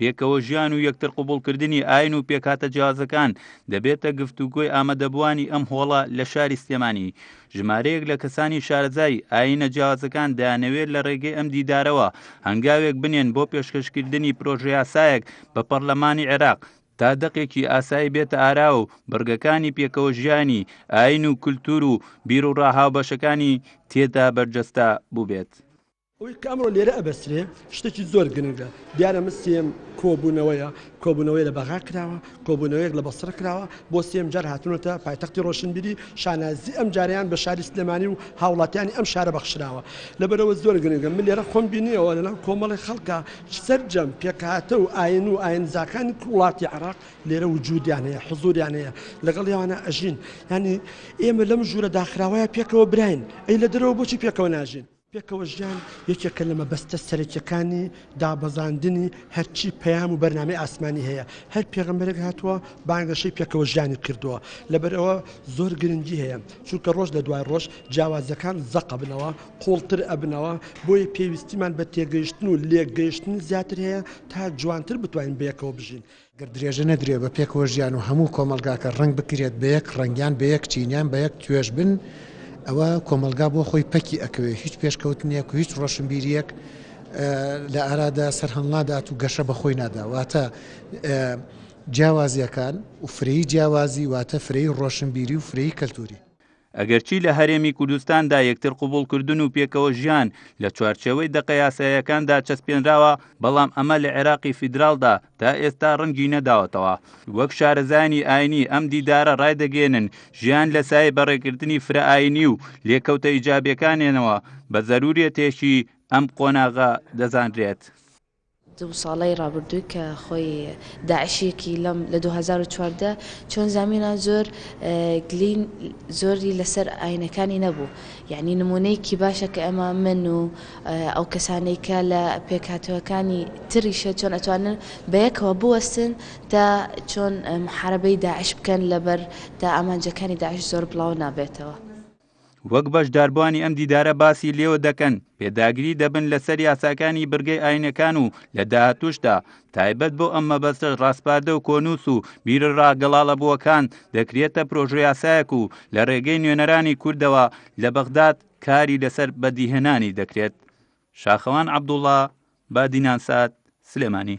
پێکەوە ژیان و یەکتر قوبوڵکردنی ئاین و پێکاتە جیازەکان دەبێتە گفتوگۆی ئامادەبووانی ئەم هۆڵە لە شاری سلێمانی ژمارەیەک لە کەسانی شارەزای ئاینە جیازەکان دەیانەوێت لە ڕێگەی ئەم دیدارەوە هەنگاوێک بنێن بۆ پێشکەشکردنی پرۆژەیاسایەک بە پەرلەمانی عێراق تا دەقێکی ئاسایی بێتە ئارا و بڕگەکانی پێکەوە ژیانی ئاین و کولتور و بیر و ڕاهاوبەشەکانی تێدا بەرجەستە بووبێت. ئەوەی کە ئەمڕۆ لێرە ئەبەسترێ شتێکی زۆر گرنگە، دیارە من سێیەم کۆبوونەوەیە، کۆبوونەوەیە لە بەغا کراوە، کۆبوونەوەیەک لە بەسڕە کراوە، بۆ سێیەم جار هاتوونەتە پایتەختی ڕۆشنبیری، شانازی ئەمجارەیان بە شاری سلێمانی و هاوڵاتیانی ئەم شارە بەخشراوە، لەبەرئەوە زۆر گرنگە، من لێرە خۆم بینییەوە لەناو کۆمەڵێ خەڵکا سەرجەم پێکهاتە و ئاین و ئاینزاکانی وڵاتی عێراق لێرە وجودیان هەیە، حزوریان هەیە، لەگەڵیانە ئەژین، یانی ئێمە لەم ژوورە داخراوەیە پێکەوە براین، ئەی لە دەرەوە بۆچی پێکەوە ناژین؟ پێکەوەژیان یەکێکە لە مەبەستە سەرەکیەکانی دابەزاندنی هەرچی پەیام و بەرنامەی ئاسمانی هەیە، هەر پێغەمبەرێک هاتووە بانگەشەی پێکەوەژیانی کردووە، لەبەرئەوە زۆر گرنگی هەیە، چونکە ڕۆژ لە دوای ڕۆژ جیاوازیەکان زەق ئەبنەوە، قوڵتر ئەبنەوە، بۆیە پێویستیمان بە تێگەیشتن و لێکگەیشتنی زیاتر هەیە تا جوانتر بتوانین بەیەکەوە بژین. گەر درێژە نەدرێ بە پێکەوە ژیان و هەموو کۆمەڵگاکە ڕەنگ بکرێت بە یەک ڕەنگ یان بە یەک چین یان بە یەک توێژ بن ئەوە کۆمەڵگا بۆ خۆی پەکی ئەکەوێ هیچ پێشکەوتنێک و هیچ ڕۆشنبیریەک لە ئارادا سەرهەڵنادات و گەشە بە خۆی نادا واتە جیاوازیەکان و فرەیی جیاوازی واتە فرەیی ڕۆشنبیری و فرەیی کەلتوری. ئەگەرچی لە هەرێمی کوردستاندا یەکتر قبوڵکردن و پێکەوە ژیان لە چوارچێوەی دەقە یاساییەکاندا چەسپێنراوە، بەڵام ئەمە لە عێراقی فیدراڵدا تا ئێستا ڕەنگی نەداوەتەوە. وەک شارەزایانی ئایینی ئەم دیدارە ڕایدەگەیەنن، ژیان لە سایەی بەڕێکردنی فرەئایینی و لێکەوتە ئیجابییەکانێنەوە، بە زەرووریەتێکی ئەم قۆناغە دەزانرێت. دوو ساڵەی ڕابردووی کە خۆی داعشیەکی لەم لە دوو هەزار و چواردە چۆن زامینا زۆر گلی زۆری لەسەر ئاینەکانی نەبوو یعنی نمونەیەکی باشە کە ئەمە من و ئەو کەسانەی کە لە پێکهاتەکانی تریشە چۆن ئەتوانن بە یەکەوە بوەستن تا چۆن محاربەی داعش بکەن لەبەر تا ئامانجەکانی داعش زۆر بڵاو نابێتەوە. وەک بەشداربووانی ئەم دیدارە باسی لێوە دەکەن پێداگری دەبن لەسەر یاساکانی برگەی ئاینەکان و لە داهاتوشدا تایبەت بۆ ئەم مەبەستە ڕاسپاردە و کۆنووس و بیرە ڕاگەڵاڵە بووەکان دەکرێتە پرۆژویاسایەک و لە ڕێگەی نوێنەرانی کوردەوە لە بەغداد کاری لەسەر بەدیهێنانی دەکرێت شاخەوان عبدوڵا بادینانسات سلێمانی